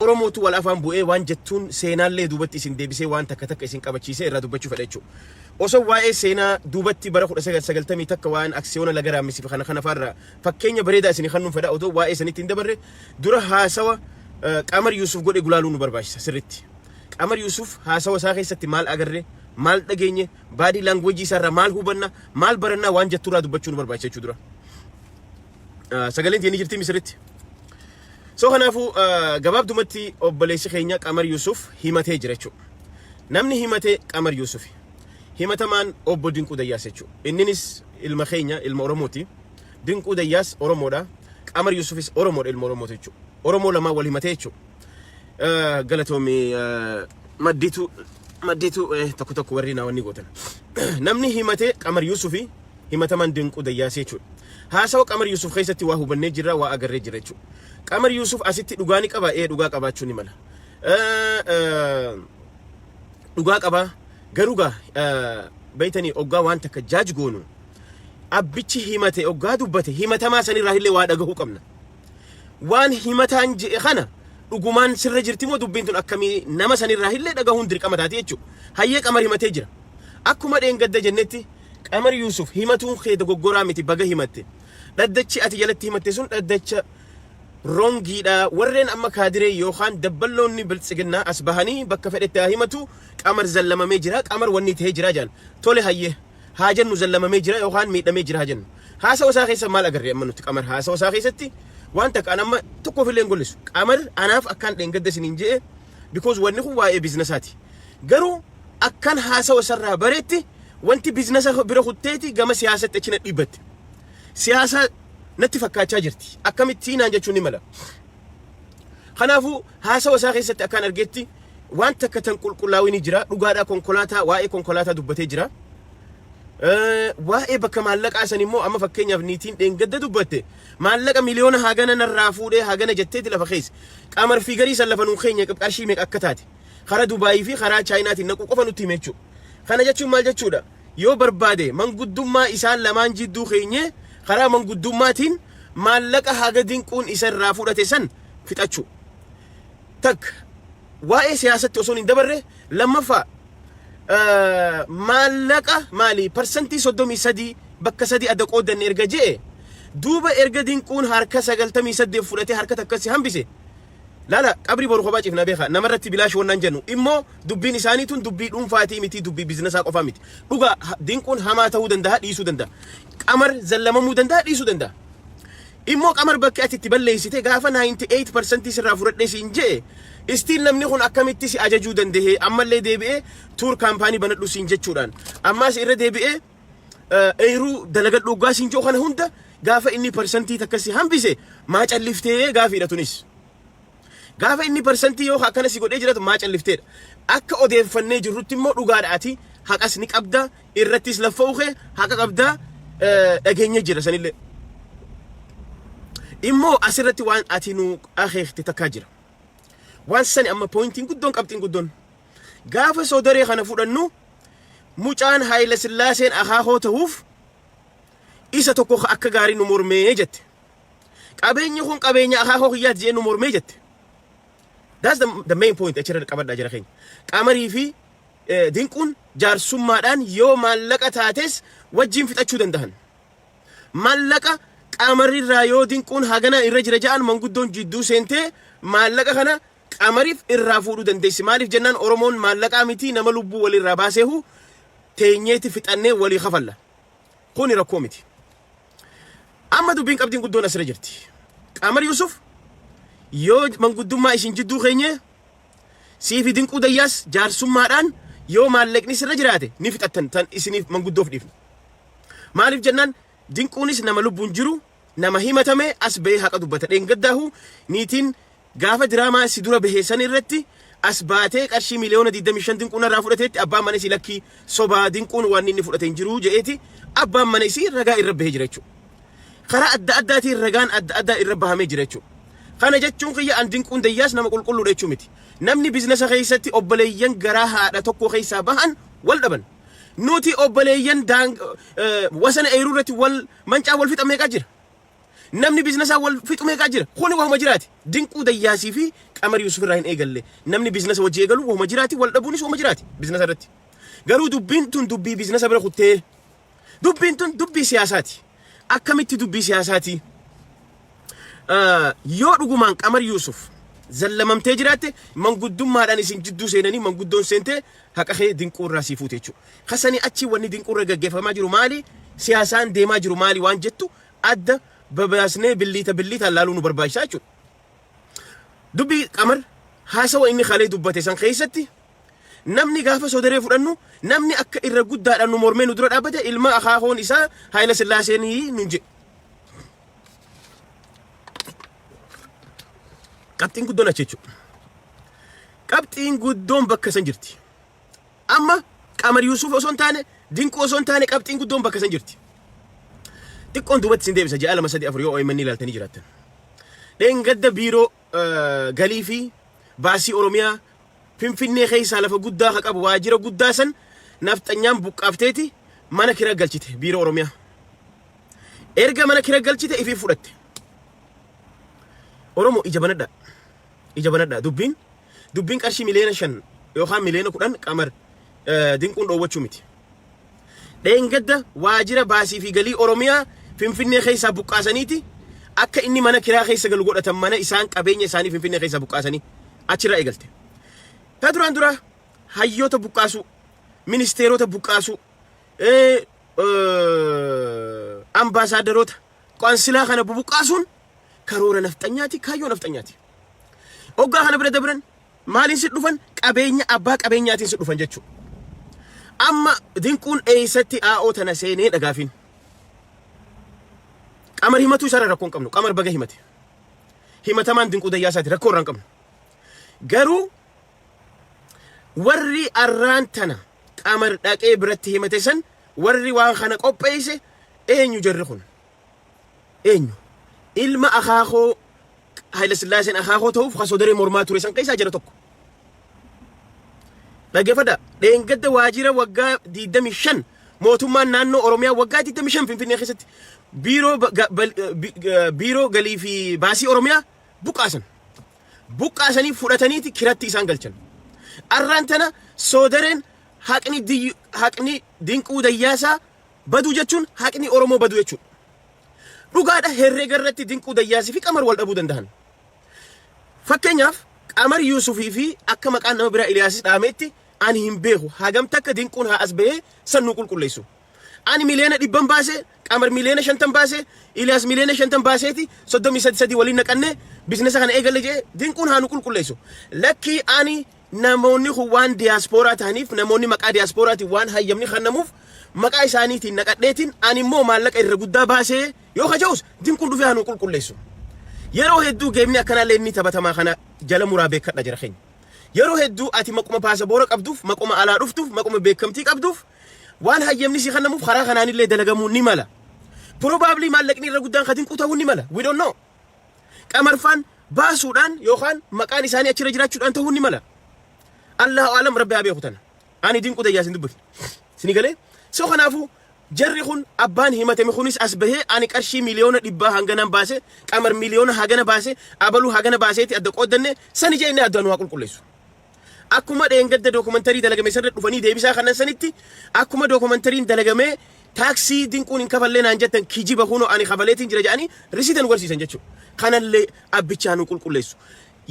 Oromootu wal afaan bu'ee waan jettuun seenaallee duubatti isin deebisee waan takka takka isin qabachiisee irraa dubbachuu fedha jechuu. Osoo waa'ee seenaa duubatti bara 1990 takka waa'een aksiyoona laga raammissifi kana kana faarraa fakkeenya bareedaa isini kannuun fedha odoo waa'ee sanitti hin dabarre dura haasawa Qamar Yuusuf godhe gulaaluu nu barbaachisa sirritti. Qamar Yuusuf haasawa isaa keessatti maal agarre, maal dhageenye, baadii laangweejii isaarraa maal hubanna, maal barannaa waan jetturraa dubbachuu nu barbaachisa jechuu dura. sagaleen tiyya ni jirti misiritti. So kanaafuu gabaabdumatti obboleessi keenya Qamar Yuusuf himatee jira jechuudha. Namni himatee Qamar Yuusufi. Himatamaan obbo Dinquu Dayyaas jechuudha. Inninis ilma keenya ilma Oromooti. Dinquu Dayyaas Oromoodha. Qamar Yuusufis Oromoodha ilma Oromooti jechuudha. Oromoo lamaan wal himatee jechuudha. Eh, Galatoomi eh, madditu madditu eh, tokko tokko warri naa wanni gootan. Namni himatee Qamar Yuusufi himatamaan dinquu dayyaasee jechuudha. Haasawa Qamar Yuusuf keessatti waa hubannee jirra waa agarree jirra jechuudha. Qamar Yuusuf asitti dhugaa ni qaba ee dhugaa qabaachuu ni mala. Eh, eh, dhugaa qabaa garuu gaa eh, beeytanii oggaa waan takka jaaj goonu abbichi himate oggaa dubbate himatamaa sanirraa illee waa dhagahuu qabna. Waan himataan je'e kana dhugumaan sirra jirti moo dubbiin tun akkamii nama sanirraa illee dhagahuun dirqama taati jechuudha. Hayyee qamar himatee jira. Akkuma dheengadda jennetti qamar Yuusuf himatuun kee dogoggoraa miti baga himatte. Dhaddachi ati jalatti himatte sun dhaddacha rongiidha warreen amma kaadiree yookaan dabballoonni biltsiginnaa as bahanii bakka fedhetti haa himatu qamar zallamamee jira qamar wanni ta'ee jira jaan tole hayyee haa jennu zallamamee jira yookaan miidhamee jira haa jennu. Haasawa isaa keessa maal agarre amma nuti qamar haasawa isaa keessatti waan takka an amma tokkoof illee hin gollisu. Qamar anaaf akkaan dheengadda isiniin je'e because wanni kun waa'ee biizinasaati. Garuu akkaan haasawa isarraa bareetti wanti biizinasa bira kutteeti gama siyaasatti achi na dhiibbatte. Siyaasaa natti fakkaachaa jirti. Akkamitti naan jechuun ni mala. Kanaafuu haasawa isaa keessatti akkaan argeetti waan takka tan qulqullaa'u ni jira. Dhugaadhaa konkolaataa waa'ee konkolaataa dubbatee jira. Eh, Waa'ee bakka maallaqaa san immoo amma fakkeenyaaf niitiin dheengadda dubbatte maallaqa miliyoona hagana narraa fuudhee hagana jetteeti lafa keessa. Qamar fi garii san lafa nuu keenya qarshii meeqa akka taate. Karaa Dubaayii fi karaa Chaayinaatiin naquu qofa nutti hime jechuudha. Kana jechuun maal jechuudha? Yoo barbaade manguddummaa isaan lamaan jidduu keenyee karaa manguddummaatiin maallaqa haga dinquun isa irraa fudhate san fixachuu. Takka, waa'ee siyaasatti osoon hin dabarre, lammaffaa maallaqa maali parsantii 33 bakka sadii adda qooddanne erga je'e duuba erga dinquun harka 98 fudhatee harka takkas si hambise laala qabrii boru kophaa ciifna beekaa namarratti bilaash wannaan jennu immoo dubbiin isaanii tun dubbii dhuunfaatii miti dubbii biizinasaa qofaa miti dhugaa ha- dinquun hamaa ta'uu danda'a dhiisuu danda'a qamar zallamamuu danda'a dhiisuu danda'a Immoo qamar bakki ati itti balleessite gaafa 98 percent sirraa fudhadhe siin je'e still namni kun akkamitti si ajajuu dandahee ammallee deebi'ee tuur kaampaanii banadhu siin jechuudhaan ammaas irra deebi'ee eeruu dalagadhu oggaa siin je'u kana hunda gaafa inni percentii takka si hambise maa calliftee gaafiidha tunis. Gaafa inni parsantii yoo akkana si godhee jiratu maa callifteedha. Akka odeeffannee jirrutti immoo dhugaadha ati haqas ni qabda irrattis laffa'u kee haqa qabda dhageenya jira sanillee. Immoo asirratti waan ati nu akeekte takkaa jira. Waan sani amma poointiin guddoon qabxiin guddoon. Gaafa soodaree kana fudhannu mucaan Haayila Sillaaseen akaakoo ta'uuf isa tokko akka gaarii nu mormee jette. Qabeenyi kun qabeenya akaakoo kiyyaati jedhee nu mormee jette. That's the, the main point achirra qabadhaa jira keenya. Qamarii fi eh, dinquun jaarsummaadhaan yoo maallaqa taates wajjin fixachuu danda'an. Maallaqa qamarirraa yoo dinquun hagana irra jira ja'an manguddoon jidduu seentee maallaqa kana qamariif irraa fuudhuu dandeessi. Maaliif jennaan Oromoon maallaqaa miti nama lubbuu walirraa baaseehu teenyeeti fixannee walii kafalla. Kuni rakkoo miti. Amma dubbiin qabdiin guddoon asirra jirti. Qaamar Yuusuf yoo manguddummaa isin jidduu keenyee siifi dinquu dayyaas jaarsummaadhaan yoo maallaqni sirra jiraate ni fixattan tan isiniif manguddoof dhiifne. Maaliif jennaan dinquunis nama lubbuun jiru nama himatame as ba'ee haqa dubbata. Dheengaddaahu niitiin Gaafa diraamaa si dura bahe san irratti as baatee qarshii miliyoona 25 dinquun irraa fudhateetti abbaan mana isii lakkii sobaa dinquun waan inni fudhate hin jiruu jedheeti abbaan mana isii ragaa irra bahee jira jechuudha. Karaa adda addaatiin ragaan adda addaa irra bahamee jira jechuudha. Kana jechuun kiyya an dinquun dayyaas nama qulqulluudha jechuu miti. Namni biiznasa keessatti obboleeyyan garaa haadha tokko keessaa bahan wal dhaban. Nuti obboleeyyan wasana eeruu irratti wal mancaa wal fixa meeqaa jira. Namni biiznasaan wal fixu meeqaa jira? Kuni wahuma jiraati. Dinquu Dayyaasii fi Qamar Yuusuf irraa hin eegalle. Namni biiznasa wajji eegalu wahuma jiraati, wal dhabuunis wahuma jiraati biiznasa irratti. Garuu dubbiin tun dubbii biiznasa bira kuttee dubbiin tun dubbii siyaasaati. Akkamitti dubbii siyaasaati? Yoo dhugumaan Qamar Yuusuf zallamamtee jiraatte manguddummaadhaan isin jidduu seenanii manguddoon seentee haqa kee dinquu irraa sii fuute jechuudha. Kasanii achi wanni dinquu irra gaggeeffamaa jiru maali? Siyaasaan deemaa jiru maali waan jettu adda babaasnee billiita billiitaan laaluu nu barbaachisa jechuudha. Dubbii Qamar haasawa inni kalee dubbate san keessatti namni gaafa sodaree fudhannu namni akka irra guddaadhaan nu mormee nu dura dhaabbate ilma akaakoon isaa Haayila Sillaaseenii nun jedhe. Qabxiin guddoon achi jechuudha. Qabxiin guddoon bakka san jirti. Amma Qamar Yuusuf osoo hin taane, Dinquu osoo hin taane qabxiin guddoon bakka san jirti. Xiqqoon duubatti isin deebisa ji'a lama sadii afur yoo OMN ilaaltanii jiraattan. Dheengadda biiroo eh, galii fi baasii Oromiyaa Finfinnee keessaa lafa guddaa ka qabu waajjira guddaa san nafxanyaan buqqaafteeti mana kira galchite biiroo Oromiyaa. Erga mana kira galchite ifii fudhatte. Oromoo ija banadhaa. Ija banadhaa dubbiin dubbiin qarshii miliyoona shan yookaan miliyoona kudhan qamar dinquun dhoowwachuu miti. Dheengadda waajira baasii fi galii Oromiyaa Finfinnee keessaa buqqaasaniiti akka inni mana kiraa keessa galu godhatan mana isaan qabeenya isaanii Finfinnee keessaa buqqaasanii achirraa eegalte. Ta duraan dura hayyoota buqqaasuu, ministeerota buqqaasuu, ambaasaadaroota, qoansilaa kana bubuqqaasuun Karoora nafxanyaati, kaayyoo nafxanyaati. Oggaa kana bira dabran maaliin si dhufan qabeenya abbaa qabeenyaatiin si dhufan jechuudha. Amma dinquun eeysatti aa'oo tana seenee dhagaafiin. Qamar himatuu isaarra rakkoo hin qabnu. Qamar baga himate. Himatamaan dinquu dayyaa isaati rakkoo irraa hin qabnu. Garuu warri arraan tana qamar dhaqee biratti himate san warri waan kana qopheeyse eenyu jarri kun. Eenyu? Ilma akaakoo Hayilasillaaseen akaakoo ta'uuf kan sodaree mormaa ture san keessaa jara tokko. Dhaggeeffadha. Dheengadda waajjira waggaa 25 mootummaan naannoo Oromiyaa waggaa 25 Finfinnee keessatti biiroo ba- ga- bal- eh, bi- eh, biiroo galii fi baasii Oromiyaa buqqaasan. Buqqaasanii fudhataniiti kiratti isaan galchan. Arraan tana soodareen haqni diyyu- haqni dinquu dayyaasaa Baduu jechuun haqni Oromoo baduu jechuudha. Dhugaadha herrega irratti Dinquu Dayyaasii fi Qamar wal dhabuu danda'an. Fakkeenyaaf Qamar Yuusufii fi akka maqaan nama biraa Iliyaasis dhaameetti ani hin beeku hagam takka Dinquun haa as bahee san nu qulqulleessu. Ani miliyoona dhibban baase, Qamar miliyoona shantan baase, Iliyaas miliyoona shantan baaseeti soddomii sadi sadii waliin naqannee biizinasa kana eegalle jedhee Dinquun haa nu qulqulleessu. Lakkii ani Namoonni kun waan diyaaspooraa tahaniif namoonni maqaa diyaaspooraatiin waan hayyamni kennamuuf maqaa isaaniitiin naqadheetiin ani immoo maallaqa irra guddaa baasee yoo kaja'us din kun dhufee hanuu qulqulleessu. Yeroo hedduu geemni akkanaa leennii taphatamaa kana jala muraa beekadha jira keenya. Yeroo hedduu ati maquma paasaboora qabduuf, maquma alaa dhuftuuf, maquma beekamtii qabduuf waan hayyamni si kennamuuf karaa kanaanillee dalagamuu ni mala. Probably maallaqni irra guddaan kadin quta'uu ni mala. We don't know. Qamarfaan baasuudhaan yookaan maqaan isaanii achirra jiraachuudhaan ta'uu ni mala. Allahu aalam rabbi haa beeku tana. Ani dinquu dayyaa isin dubbifne. Isin galee? So kanaafuu jarri kun abbaan himatame kunis as bahee ani qarshii miliyoona dhibbaa hanganaan baase qamar miliyoona hagana baase abaluu hagana baaseeti adda qooddanne sani jee inni addaan waa qulqulleessu. Akkuma dheengadda dookumantarii dalagame sanirra dhufanii deebisaa kannan sanitti akkuma dookumantariin dalagamee taaksii dinquun hin kafallee naan jettan kijiba kunoo ani kafaleetiin jira jedhanii risiita nu garsiisan jechuudha. Kanallee abbichaa nu qulqulleessu.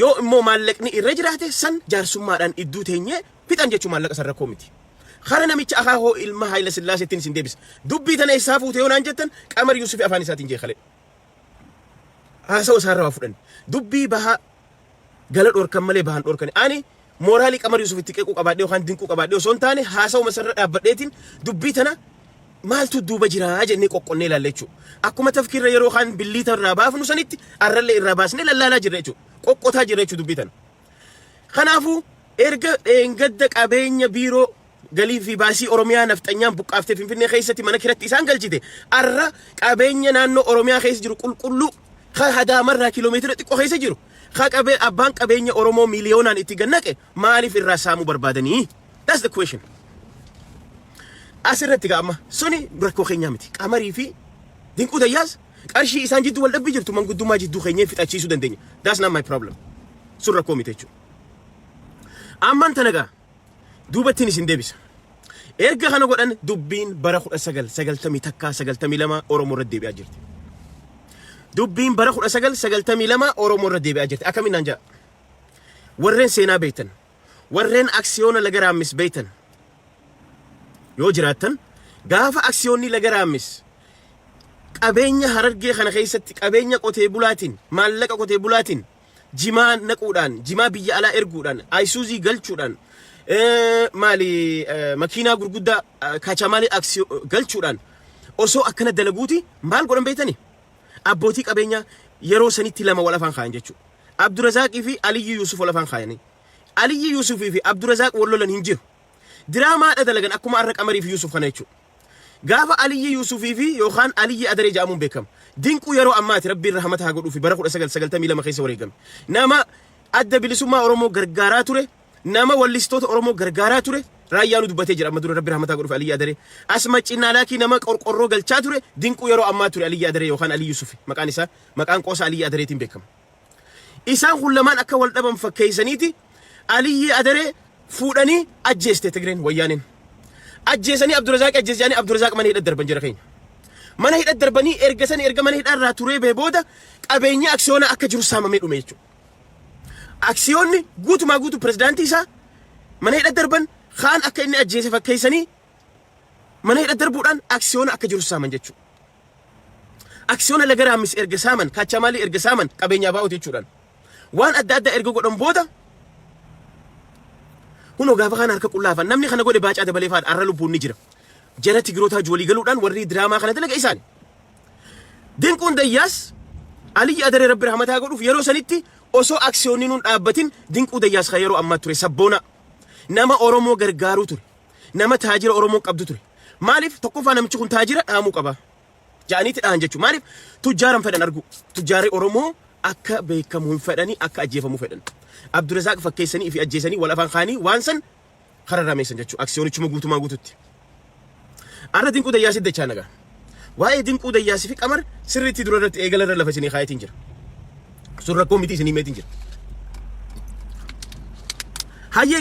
Yoo immoo maallaqni irra jiraate san jaarsummaadhaan idduu teenyee fixan jechuu maallaqa san rakkoo miti. Kara namicha akaa hoo ilma Haayila Sillaaseettiin isin deebisa. Dubbii tana eessaa fuute yoo naan jettan Qamar Yuusufi afaan isaatiin jeekalee. Haasawa isaarra waa fudhanne. Dubbii bahaa gala dhorkan malee bahan dhorkani. Ani mooraalii Qamar Yuusuf itti qeequu qabaadhee yookaan dinquu qabaadhee osoo hin taane haasawuma isarra dhaabbadheetiin dubbii tana maaltu duuba jira jennee qoqqonnee ilaalla jechuudha. Akkuma tafkiirra yeroo kaan billiita irraa baafnu sanitti arrallee irraa baasnee lallaalaa jirra jechuudha. Qoqqotaa jirra jechuudha dubbii tana. Kanaafuu erga dheengadda qabeenya biiroo Galii fi baasii Oromiyaa nafxanyaan buqqaaftee Finfinnee keessatti mana kiratti isaan galchite arra qabeenya naannoo Oromiyaa keessa jiru qulqulluu ka hadaamarraa kiiloomeetira xiqqoo keessa jiru ka qabee abbaan qabeenya Oromoo miiliyoonaan itti gannaqe maaliif irraa saamuu barbaadanii? That's the question. Asirratti gaama suni rakkoo keenyaa miti. Qamarii fi dinquu tayyaas qarshii isaan jidduu wal dhabbii jirtu manguddummaa jidduu keenyee fixachiisuu dandeenya. That's not my problem. Sun rakkoo miti jechuudha. Amman tana gaa duubattiin isin deebisa. Erga kana godhan dubbiin bara 1990 takkaa 92 Oromoo irra deebi'aa jirti. Dubbiin bara 1992 Oromoo irra deebi'aa jirti. Akkamiin naan ja'a? Warreen seenaa beektan, warreen aksiyoona laga raammis beektan yoo jiraattan gaafa aksiyoonni laga raammis qabeenya harargee kana keessatti qabeenya qotee bulaatiin maallaqa qotee bulaatiin jimaa naquudhaan, jimaa biyya alaa erguudhaan, ayisuuzii galchuudhaan, maali makiinaa gurguddaa kaachamaalee aksii galchuudhaan osoo akkana dalaguuti maal godhan beektani? Abbootii qabeenyaa yeroo sanitti lama wal afaan kaayan jechuudha. Abdurazaaqii fi Aliyyii Yuusuf wal afaan kaayanii. Aliyyii Yuusufii fi Abdurazaaq wal lolan hin jiru. Diraamaadha dalagan akkuma arra Qamarii fi Yuusuf kana jechuudha. Gaafa Aliyyi Yuusufii fi yookaan Aliyyi Adaree jedhamuun beekama. Dinquu yeroo ammaati Rabbiin rahamata haa godhuu fi bara 1992 keessa wareegame. Nama adda bilisummaa Oromoo gargaaraa ture, nama wallistoota Oromoo gargaaraa ture, raayyaanuu dubbatee jira amma dura Rabbi rahamata haa godhuu fi Aliyyi Adaree. Asma Cinnaalaakii nama qorqorroo galchaa ture, dinquu yeroo ammaa ture Aliyyi Adaree yookaan Aliyyi Yuusufi maqaan isaa maqaan qoosa Aliyyi Adareetiin beekama. Isaan kun lamaan akka wal dhaban fakkeessaniiti Aliyyii Adaree fuudhanii ajjeeste Tigreen Wayyaaneen. Ajjeesanii Abdurazaaqi ajjeese jedhanii Abdurazaaq mana hidha darban jira keenya. Mana hidha darbanii erga sani erga mana hidhaa irraa turee bee booda qabeenya aksiyoonaa akka jiru saamamee dhume jechuudha. Aksiyoonni guutumaa guutuu pirezidaantii isaa mana hidha darban kaan akka inni ajjeese fakkeessanii mana hidha darbuudhaan aksiyoona akka jiru saaman jechuudha. Aksiyoona Laga Raammis erga saaman, Kaachamaalii erga saaman qabeenya ABOti jechuudhaan waan adda addaa erga godhan booda kunoo gaafa kaan harka qullaa hafan namni kana godhe baacaa dabalee faadha har'a lubbuun ni jira. Jara Tigrootaa wajji walii galuudhaan warri diraamaa kana dalaga isaani. Dinquun Dayyaas Aliyyi Adaree Rabbi rahmataa godhuuf yeroo sanitti osoo aksiyoonni nuun dhaabbatin dinquu dayyaas kan yeroo ammaa ture sabboona nama Oromoo gargaaruu ture. nama taajira Oromoon qabdu ture. Maaliif tokkoffaa namichi kun taajira dhaamuu qaba. Ja'aniiti dhahan jechuudha. Maaliif tujjaaran fedhan arguu. Tujjaarri Oromoo akka beekamu hin fedhanii akka ajjeefamu fedhan. Abdurazaaq fakkeessanii fi ajjeesanii wal afaan kaanii waan san kararrameessan jechuudha. Aksiyoonichuma guutumaa guututti. Arra dinquu dayyaasii dachaa nagaa. Waa'ee dinquu dayyaasii fi qamar sirriitti dura irratti eegala irra lafa isinii kaayetiin jira. Sun rakkoo miti isinii meetiin jira. Hayyee